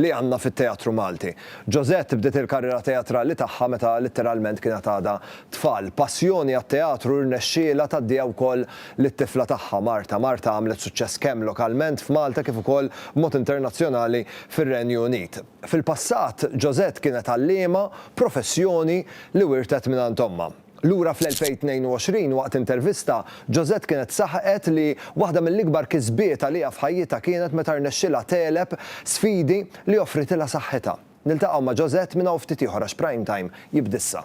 li għandna fit-teatru Malti. Josette bdiet il-karriera teatrali tagħha meta litteralment kienet għadha tfal. Passjoni għat-teatru rnexxielha tgħaddiha wkoll lit-tifla tagħha, Marta. Marta għamlet suċċess kemm lokalment f'Malta kif ukoll b'mod internazzjonali fir-Renju Unit. Fil-passat, Josette kienet għalliema, professjoni li wirtet mingħand ommha. Lura fl-2022, waqt intervista, Josette kienet saħqet li waħda mill-ikbar kisbiet għaliha f'ħajjitha kienet meta rnexxielha tegħleb sfidi li offritilha saħħitha. Niltaqgħu ma' Josette minn hawn ftit ieħor għax Prime Time jibda issa.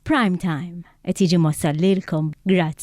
Prime Time qed jiġi mwassal lilkom grazzi.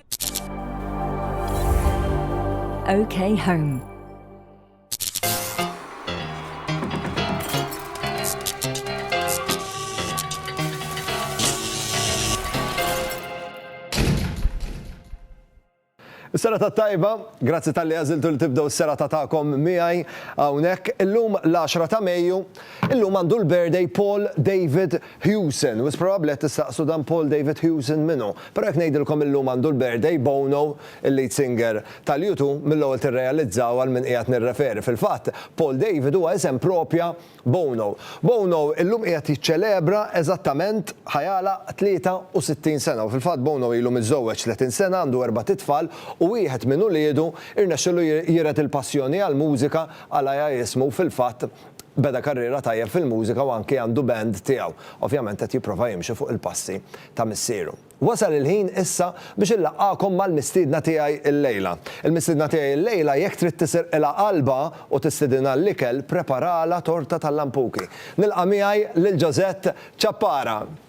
OK Home. Sera ta' tajba, grazzi tal-li għaziltu li tibdew s-sera ta' ta'kom miħaj għawnek. Illum l-10 ta' Mejju, illum għandu l-birthday Paul David Hewson, wisq probabbli qed tistaqsu dan Paul David Hewson min hu. Però jekk ngħidilkom illum għandu l-birthday Bono, il-lead singer tal-U Two, mill-ewwel tirrealizzaw għal min qiegħed nirreferi. Fil-fatt, Paul David huwa isem proprja Bono. Bono illum qiegħed jiċċelebra eżattament, ħa jagħlaq, 63 sena. U fil-fatt Bono ilu miżżewweġ 30 sena, għandu erbat itfal u wieħed minn uliedu rnexxielu jiret il-passjoni għall-mużika għal għajja jismu u fil-fatt Beda karriera tajjeb fil-mużika u anki għandu band tiegħu. Ovvjament qed jipprova jimxi fuq il-passi ta' missieru. Wasal il-ħin issa biex inlaqqagħkom mal-mistiedna tiegħi llejla. Il-mistiedna tiegħi llejla jekk trid tisirqilha qalbha u tistidinha għall-ikel preparalha torta tal-lampuki. Nilqa' miegħi lil Josette Ciappara.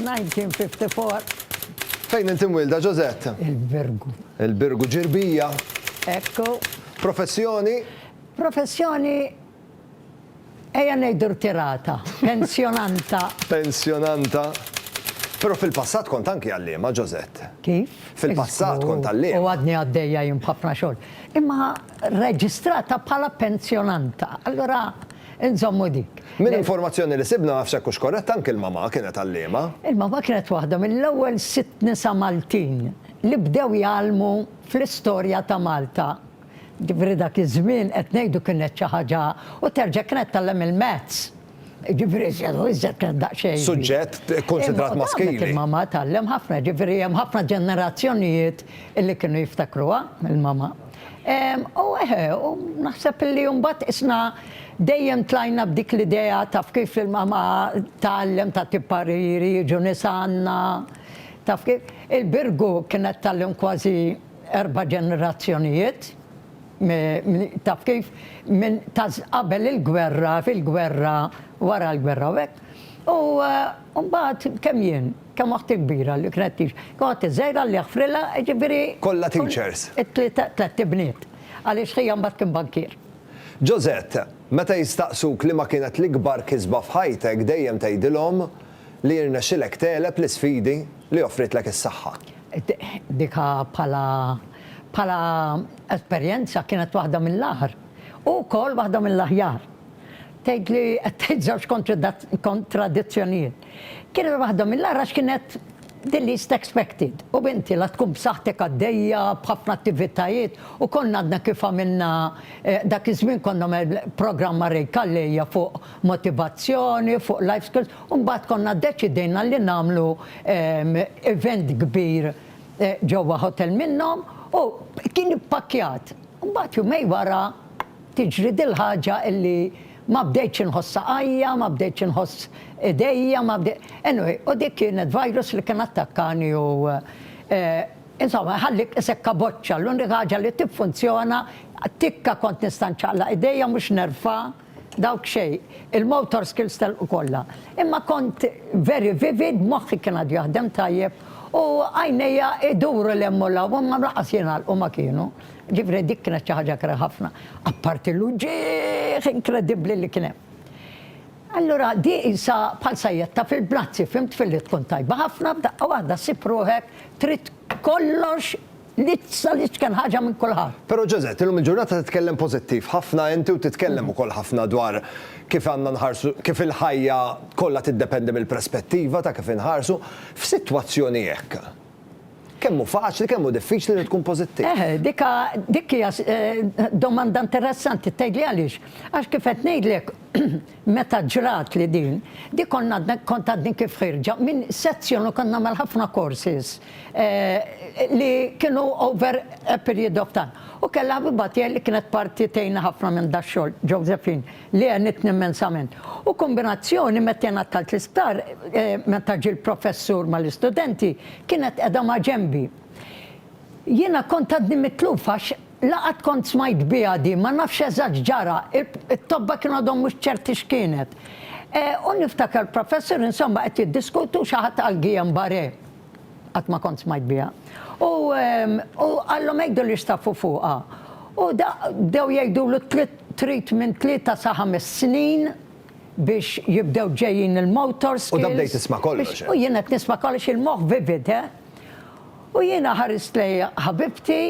1954. Fejn int imwielda, Josette? Il-Birgu. Il-Birgu, Ġirbija? Ekku. Professjoni? Professjoni ejja ngħidu rtirata, pensjonanta. Pensjonanta. Però fil-passat kont anki għalliema, Josette. Kif? Fil-passat kont għalliema. U għadni għaddejja jien b'ħafna xogħol. Imma rreġistrata bħala pensjonanta. Allura Inżommu dik. Minn informazzjoni li sibna, ma nafx jekk hux korrett, anki l-mama kienet għalliema. Il-mama kienet waħda mill-ewwel sitt nisa Maltin li bdew jgħallmu fl-istorja ta' Malta. Jiġifieri dak iż-żmien qed ngħidu kienet xi ħaġa u terġa' kienet tgħallem il-maths. Jiġifieri iżjed u iżjed kienet daqsxejn. Suġġett kkunsidrat maskili. Imma il-mama tgħallem ħafna, jiġifieri hemm ħafna ġenerazzjonijiet li kienu jiftakruha, il-mama. U eħe, u naħseb li mbagħad isna dejjem tlajna b'dik l-idea taf kif li l-mama tgħallem ta' tippariri jiġu nies għandna. Taf kif? Il-Birgu kienet tgħallem kważi erba' ġenerazzjonijiet. Taf kif? Minn ta' qabel il-gwerra, fil-gwerra, wara l-gwerra u hekk. U mbagħad kemm jien? Kemm oħti kbira li kienet teach. Kemm oħti żgħira Alla jaħfrilha, jiġifieri. Kollha teachers. It-tliet ibniet. Għaliex ħija mbagħad kien bankier. Josette, meta jistaqsuk liema kienet l-ikbar kisba f'ħajtek dejjem tgħidilhom li jirnexxilek tegħleb l-isfidi li offritlek is-saħħa. Dik bħala bħala esperjenza kienet waħda mill-agħar u wkoll waħda mill-aħjar. Tgħidli qed tgħid żewġ kontradizzjonijiet. Kienet waħda mill-agħar għax kienet the least expected u binti la tkun b'saħħtek għaddejja b'ħafna attivitajiet u konna għadna kif għamilna dak iż-żmien konna għamel programm ma' Ray Calleja fuq motivazzjoni, fuq life skills u mbagħad konna ddeċidejna li nagħmlu event kbir ġewwa hotel minnhom u kien ippakkjat. Mbagħad jumejn wara tiġri dil-ħaġa illi Ma bdejtx inħoss saqajja, ma bdejtx inħoss idejja, ma bdejt. Anyway, u dik kienet virus li kien attakkani u insomma jħallik isek kaboċċa, l-unika ħaġa li tiffunzjona, tikka kont nista' nċaqlaq idejja mhux nerfa', dawk xejn, il-motor skills telqu kollha. Imma kont very vivid, moħħi kien għadu jaħdem tajjeb u għajnejja iduru 'l hemm u 'l hawn, imma lanqas jingħalqu ma kienu. Ġifieri dik kienet xi ħaġa kera ħafna, apparti l-uġigħ inkredibbli li kien hemm. Allura di qisha bħal sajjetta fil-bnazzi, fhimt, filli tkun tajba ħafna f'daqqa waħda ssib ruħek trid kollox li sa l-iċken ħaġa minn kulħadd. Però Josette, illum il-ġurnata titkellem pożittiv ħafna inti u titkellem ukoll ħafna dwar kif għandna nħarsu, kif il-ħajja kollha tiddependi mill-prespettiva ta' kif inħarsu. F'sitwazzjoni hekk, Kemm hu faċli, kemm hu diffiċli li tkun pożittiv. Eh, dik dik hija eh, domanda interessanti, tgħidli għaliex? Għax kif qed ngħidlek meta ġrat li din, dik konna kont għadni kif ħirġa minn sezzjon u konna mal ħafna courses eh, li kienu over a period of time. U kellha bibatija li kienet parti tejna ħafna minn dax-xogħol, Josephine. li għenitni immensament. U kombinazzjoni meta jien għattalt l-isptar, meta ġie l-professur mal-istudenti, kienet qiegħda ma' ġenbi. Jiena kont għadni mitluf għax la qatt kont smajt biha din, ma nafx eżatt x'ġara, it-tobba kien għadhom mhux ċerti x'kienet. U niftakar l-professur insomma qed jiddiskutu xi ħadd għall-Guillain-Barré. Qatt ma kont smajt biha. U u qallhom għidu li jstaffu fuqha. U da bdew jgħidulu trid trid minn tlieta sa ħames snin biex jibdew ġejjin il-motor skills. U da bdejt tisma' kollox int. U jien qed nisma' kollox, il-moħħ vivid, he. U jiena ħarist lej ħabibti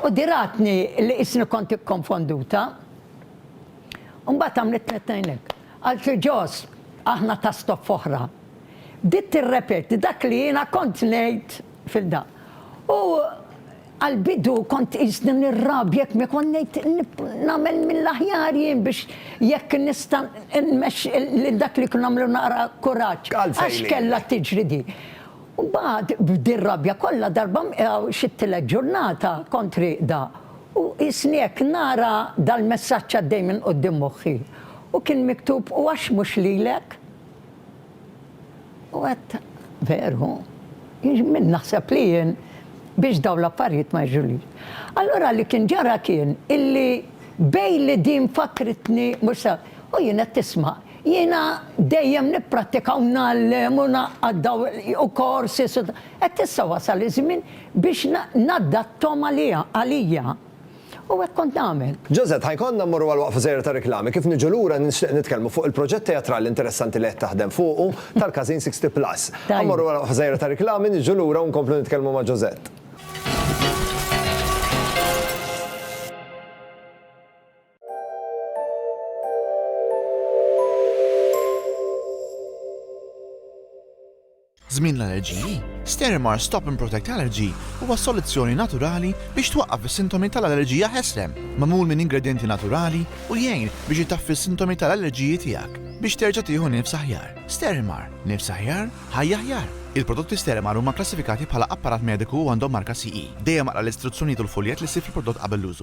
u di ratni li qisni kont ikkonfonduta. U mbagħad għamlitlni t-tnejn hekk. Qaltli, Jos, aħna ta' stoffa oħra. Bdiet tirrepeti dak li jiena kont ngħid fil-da. U għall-bidu kont qisni nirrabja jekk ma kont ngħid nagħmel mill-aħjar jien biex jekk nista' nmexxi lil dak li kien nagħmlu naqra kuraġġ. Għax kellha tiġri di. U mbagħad b'di r-rabja kollha darba mqegħu xi tielet ġurnata kont rieqda u qisni hekk nara dal-messaġġ għaddej minn quddiem moħħi. U kien miktub u għax mhux lilek? U għedt, Veru, min naħseb li jien biex dawn l-affarijiet ma jiġrulix? Allura li kien ġara kien illi bejn li din fakkritni mhux sew, u jien qed tisma', jiena dejjem nipprattika u ngħallem u ngħaqqad daw u korsi, qed issa wasal iż-żmien biex naddatthom għaliha, għalija. U hekk kont nagħmel. Josette, Ħa jkollna mmorru għal waqfa żgħira ta' riklami, kif niġu lura nixtieq nitkellmu fuq il-proġett teatrali interessanti li qed taħdem fuqu tal-Każin Sixty Plus. Ħa mmorru għal waqfa żgħira ta' riklami, niġu lura u nkomplu nitkellmu ma' Josette. Żmien l-allerġiji, Sterimar Stop and Protect Allergy huwa soluzzjoni naturali biex twaqqaf is-sintomi tal-allerġija ħeslem, magħmul minn ingredjenti naturali u jgħin biex itaffi s-sintomi tal-allerġiji tiegħek biex terġa' tieħu nifs aħjar. Sterimar, nifs aħjar, ħajja aħjar! Il-prodotti Sterimar huma kklassifikati bħala apparat mediku u għandhom marka CE. Dejjem aqra l-istruzzjonijiet u l-fuljett li ssib fil-prodott qabel l-użu.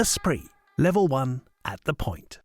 Esprit, level one at the point.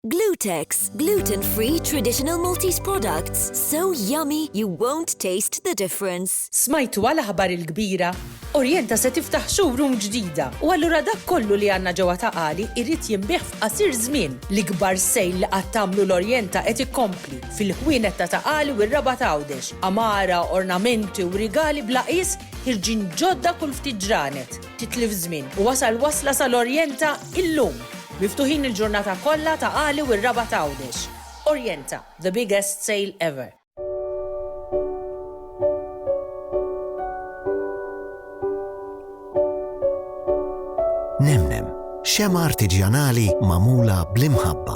Glutex, gluten-free traditional Maltese products, so yummy you won't taste the difference. Smajtu għal aħbar il-kbira? Orienta se tiftaħ showroom ġdida u allura dak kollu li għandna ġewwa ta' qali jrid jinbih f'qasir żmien. L-ikbar sejl li qatt tagħmlu l-Orienta qed ikompli. fil-ħwienet ta' Ta' Qali u r-Rabat Għawdex, għamara, ornamenti u rigali bla qies ħirġin ġodda kull ftit ġranet. Titlif żmien u wasal wasla sal-Orjenta illum! Miftuħin il-ġurnata kollha Ta' Qali u r-Rabat Għawdex. Orjenta, the biggest sale ever! Nemnem, xemgħa artiġjanali magħmula bl-imħabba.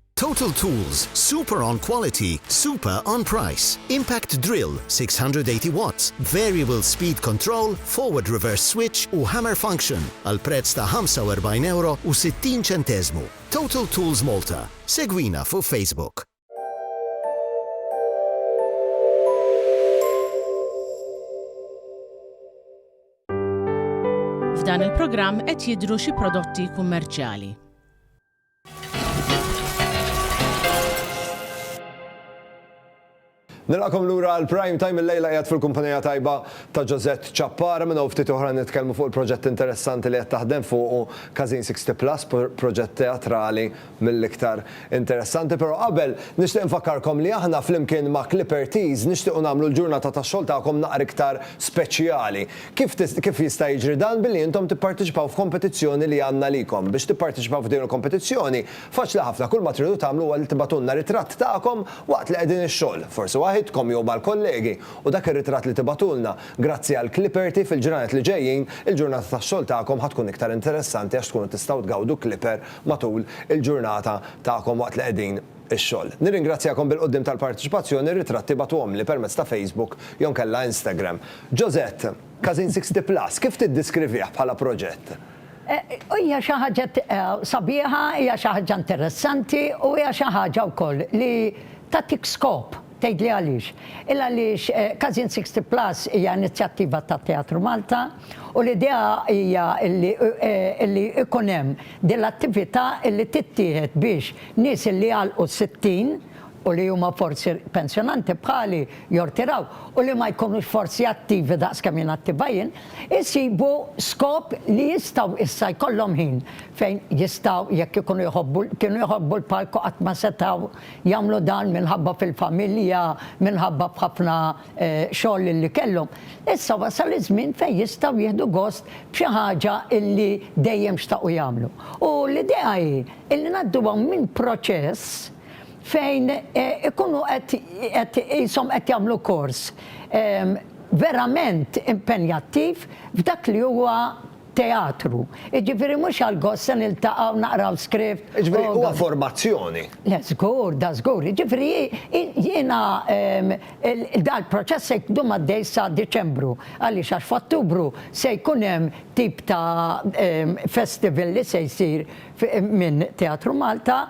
Total Tools, super on quality, super on price. Impact drill, 680 watts, variable speed control, forward reverse switch u hammer function għal prezz ta' €45 u 60 ċenteżmu. Total Tools Malta. Segwina fuq Facebook. F'dan il-programm qed jidhru xi prodotti kummerċjali. Nilqakom lura għal Prime Time il-lejla qiegħed fil-kumpanija tajba ta' Ġożett Ċappara minn hawn ftit oħra nitkellmu fuq il-proġett interessanti li qed taħdem fuqu Każin 60 Plus, proġett teatrali mill-iktar interessanti. Però qabel nixtieq infakkarkom li aħna flimkien ma' Clipper Tees nixtiequ nagħmlu l-ġurnata tax-xogħol tagħkom naqra iktar speċjali. Kif tista', kif jista' jiġri dan billi intom tipparteċipaw f'kompetizzjoni li għandna għalikom? Biex tipparteċipaw f'din il-kompetizzjoni, faċli ħafna, kull ma tridu tagħmlu huwa li tibagħtulna ritratt tagħkom waqt li qegħdin ix-xogħol, forsi waħidkom jew mal-kollegi, u dak ir-ritratt li tibagħtulna, grazzi għal Clipperty, fil-ġranet li ġejjin, il-ġurnata tax-xogħol tagħkom ħa tkun iktar interessanti għax tkunu tistgħu tgawdu Clipper matul il-ġurnata tagħkom waqt li qegħdin ix-xogħol. Nirringrazzjakom bil-quddiem tal-parteċipazzjoni, ritratti bagħtuhomli permezz ta' Facebook jew inkella Instagram. Josette, Każin Sixty Plus, kif tiddiskrivih bħala proġett? Hija xi ħaġa sabiħa, hija xi ħaġa interessanti u hija xi ħaġa wkoll li tagħtik skop. Tgħidli għaliex? Illa għaliex Każin Sixty Plus hija inizjattiva ta' Teatru Malta u l-idea hija illi illi ikun hemm din l-attività illi tittieħed biex nies illi jagħlqu s-sittin u li huma forsi pensjonanti bħali, jortiraw, u li ma jkunux forsi attivi daqs kemm jien attiva jien, isibu skop li jistgħu issa jkollhom ħin fejn jistgħu jekk ikunu jħobbu, kienu jħobbu l-palk u qatt ma setgħu, jagħmlu dan minħabba fil-familja, minħabba f'ħafna xogħol li kellhom, issa wasal iż-żmien fejn jistgħu jieħdu gost b'xi ħaġa li dejjem xtaqu jagħmlu. U l-idea hi li ngħadduhom minn proċess fejn ikunu qed qishom qed jagħmlu kors verament impenjattiv f'dak li huwa Teatru. Jiġifieri mhux għall-gost se niltaqgħu naqraw script u. Jiġifieri huwa formazzjoni. Le żgur, da żgur. Jiġifieri jiena dal-proċess se jdum għaddej sa Diċembru. Għaliex għax f'Ottubru se jkun hemm tip ta' festival li se jsir minn Teatru Malta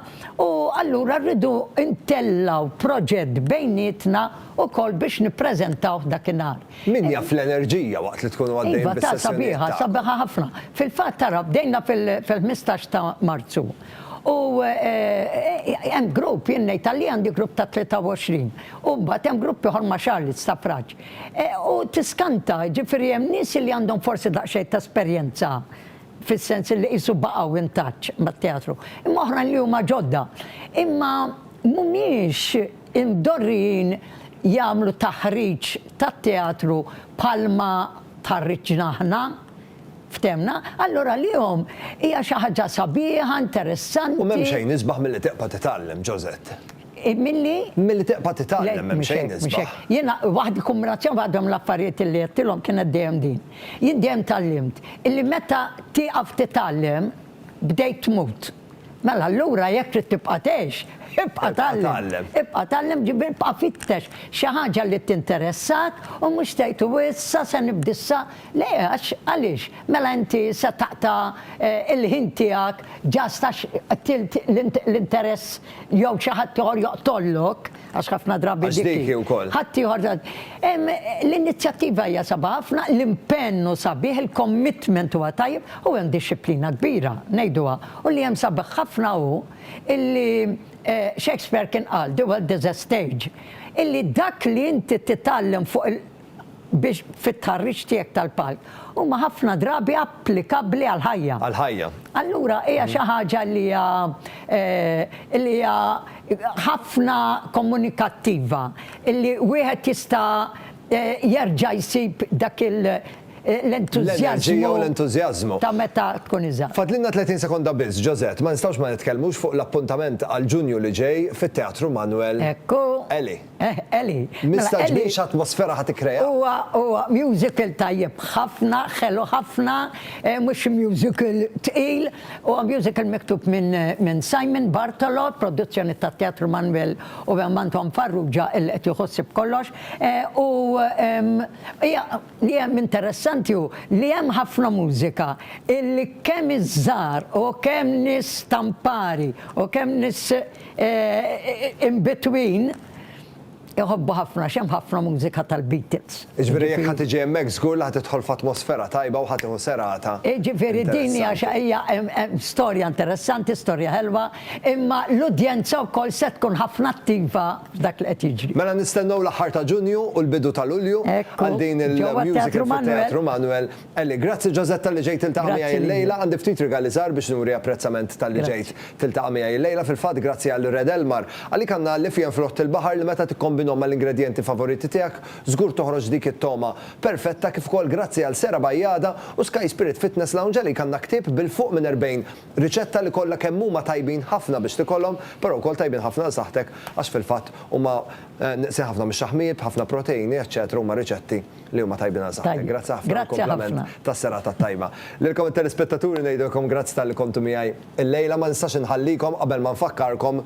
u allura rridu ntellgħu proġett bejnietna wkoll biex nippreżentawh dakinhar. Min jaf l-enerġija waqt li tkunu għaddejjin bis-sessjonijiet tagħkom. Iva, ta' sabiħa, sabiħa ħafna. Fil-fatt tara bdejna fil-ħmistax ta' Marzu u hemm grupp, jien ngħid għalli għandi grupp ta' 23, u mbagħad hemm grupp ieħor ma' Charlotte Stafrace. U tiskanta, jiġifieri hemm nies li għandhom forsi daqsxejn ta' esperjenza fis-sens li qisu baqgħu in touch mat-teatru, imma oħrajn li huma ġodda. Imma mhumiex Imdorrijin jagħmlu taħriġ tat-teatru bħalma tħarriġna aħna, ftemna, allura għalihom hija xi ħaġa sabiħa, interessanti. U m'hemm xejn isbaħ milli tiqpa' titgħallem, Josette. Milli? Milli tiqpa' titgħallem, m'hemm xejn isbaħ. Jiena waħda il-kombinazzjoni waħda mill-affarijiet li għedtilhom kienet dejjem din. Jien dejjem tgħallimt illi meta tieqaf titgħallem bdejt tmut. Mela allura jekk trid tibqa' tgħix, ibqa' tgħallem. Ibqa' tgħallem, ġifieri ibqa' fittex xi ħaġa li tinteressak u mhux tgħid u issa se nibda issa, le għax għaliex? Mela inti se taqta' l-ħin tiegħek just għax qtilt l-interess jew xi ħaddieħor joqtollok. għax ħafna drabi Għax dik hi wkoll. Ħadd ieħor ta- Em, l-inizjattiva hija sabha ħafna, l-impenn hu sabiħ, il-commitment huwa tajjeb u hemm dixxiplina kbira, ngħiduha. U li hemm sabiħ ħafna hu illi eh, Shakespeare kien qal, The World is a Stage, illi dak li inti titgħallem fuq il- biex fit-tħarriġ tiegħek tal-palk huma ħafna drabi applikabbli għall-ħajja. Għall-ħajja. Allura hija xi ħaġa li hija li hija ħafna komunikattiva, li wieħed jista' jerġa' jsib dak il- l-entużjażmu u l-entużjażmu ta' meta tkun iżgħar. Fadlilna 30 sekonda biss, Josette, ma nistgħux ma nitkellmux fuq l-appuntament għal Ġunju li ġej fit-Teatru Manuel Eli. Eħ, Eli. Mistaġbinx atmosfera ħa tikkrea? Huwa, huwa musical tajjeb ħafna, ħelu ħafna, mhux xi musical tqil, huwa musical miktub minn minn Simon Bartolo, produzzjoni tat-Teatru Manwel u hemm Anton Farrugia illi qed jieħu ħsieb kollox. U hija Li hemm interessanti hu li hemm ħafna mużika illi kemm iż-żgħar u kemm nies stampari u kemm nies in between iħobbu ħafna għax hemm ħafna mużika tal-Beatles. Jiġifieri jekk ħa tiġi hemmhekk żgur li ħa tidħol f'atmosfera tajba u ħa tieħu serata. Jiġifieri din hija xi hija storja interessanti, storja ħelwa. Imma l-udjenza wkoll se tkun ħafna attiva f'dak li qed jiġri. Mela nistennew l-aħħar ta' Ġunju u l-bidu ta' Lulju għal din il-musical fit-Teatru Manuel Ellie. Grazzi Josette talli ġejt tiltaqa' miegħi illejla. Għandi ftit rigali żgħar biex nuri apprezzament talli ġejt tiltaqa' miegħi illejla. Fil-fatt grazzi għal Red Elmar. Għalik għandna għalliefien fl-Ħodt il-Baħar li meta tikkombinhom mal-ingredjenti favoriti tiegħek żgur toħroġ dik it-togħma perfetta kif ukoll grazzi għal Sera Bajada u Sky Spirit Fitness Lounge għalik għandna ktieb bil-fuq minn 40 Riċetta li kollha kemm huma tajbin ħafna biex tikolhom, però wkoll tajbin ħafna għal saħħtek għax fil-fatt huma nieqsin ħafna mix-xaħmijiet b'ħafna proteini eċċetera huma riċetti li huma tajbin għal saħħtek. Grazzi ħafna għall-kumplament tas-serata t-tajba. Lilkom it-telespettaturi ngħidilkom grazzi talli kontu miegħi illejla ma nistax inħallikom qabel ma nfakkarkom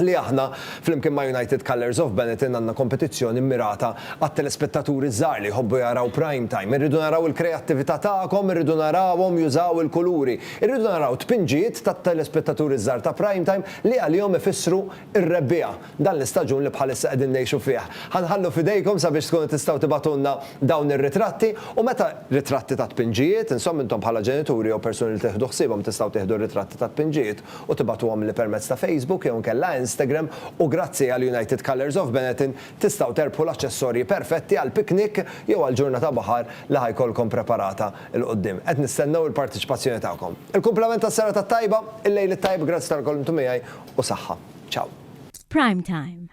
li aħna, flimkien ma' United Colours of Benetton, għandna kompetizzjoni mmirata għat-telespettaturi ż-żgħar li jħobbu jaraw prime time. Irridu naraw il-kreattività tagħkom, irridu narawhom jużaw il-kuluri. Irridu naraw tpinġijiet tat-telespettaturi ż-żgħar ta' prime time li għalihom ifissru r-rebbiegħa, dan l-istaġun li bħalissa qegħdin ngħixu fih. Ħa nħallu f'idejkom sabiex tkunu tistgħu tibagħtulna dawn ir-ritratti u meta, ritratti ta' tpinġijiet, insomma intom bħala ġenituri jew persuni li tieħdu ħsiebhom tistgħu tieħdu r-ritratti tat-tpinġijiet u tibgħatuhomli permezz ta' Facebook jew inkella Instagram u grazzi għal United Colours of Benetton tistgħu terbħu l-aċċessorji perfetti għal piknik jew għal ġurnata baħar li ħa jkollkom preparata 'l quddiem. Qed nistennew il-parteċipazzjoni tagħkom. Il-kumplament tas-serata t-tajba, il-lejl it-tajb, grazzi tal-kelmtu miegħi u saħħa. Ciao. F'Prime Time.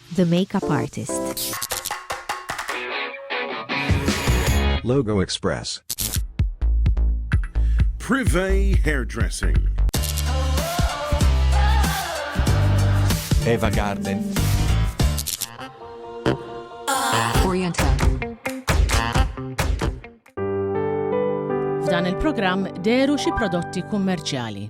The Makeup Artist. Logo Express. Privé Hairdressing. Eva Garden. Oriental. F'dan il-programm deru xi prodotti kummerċjali.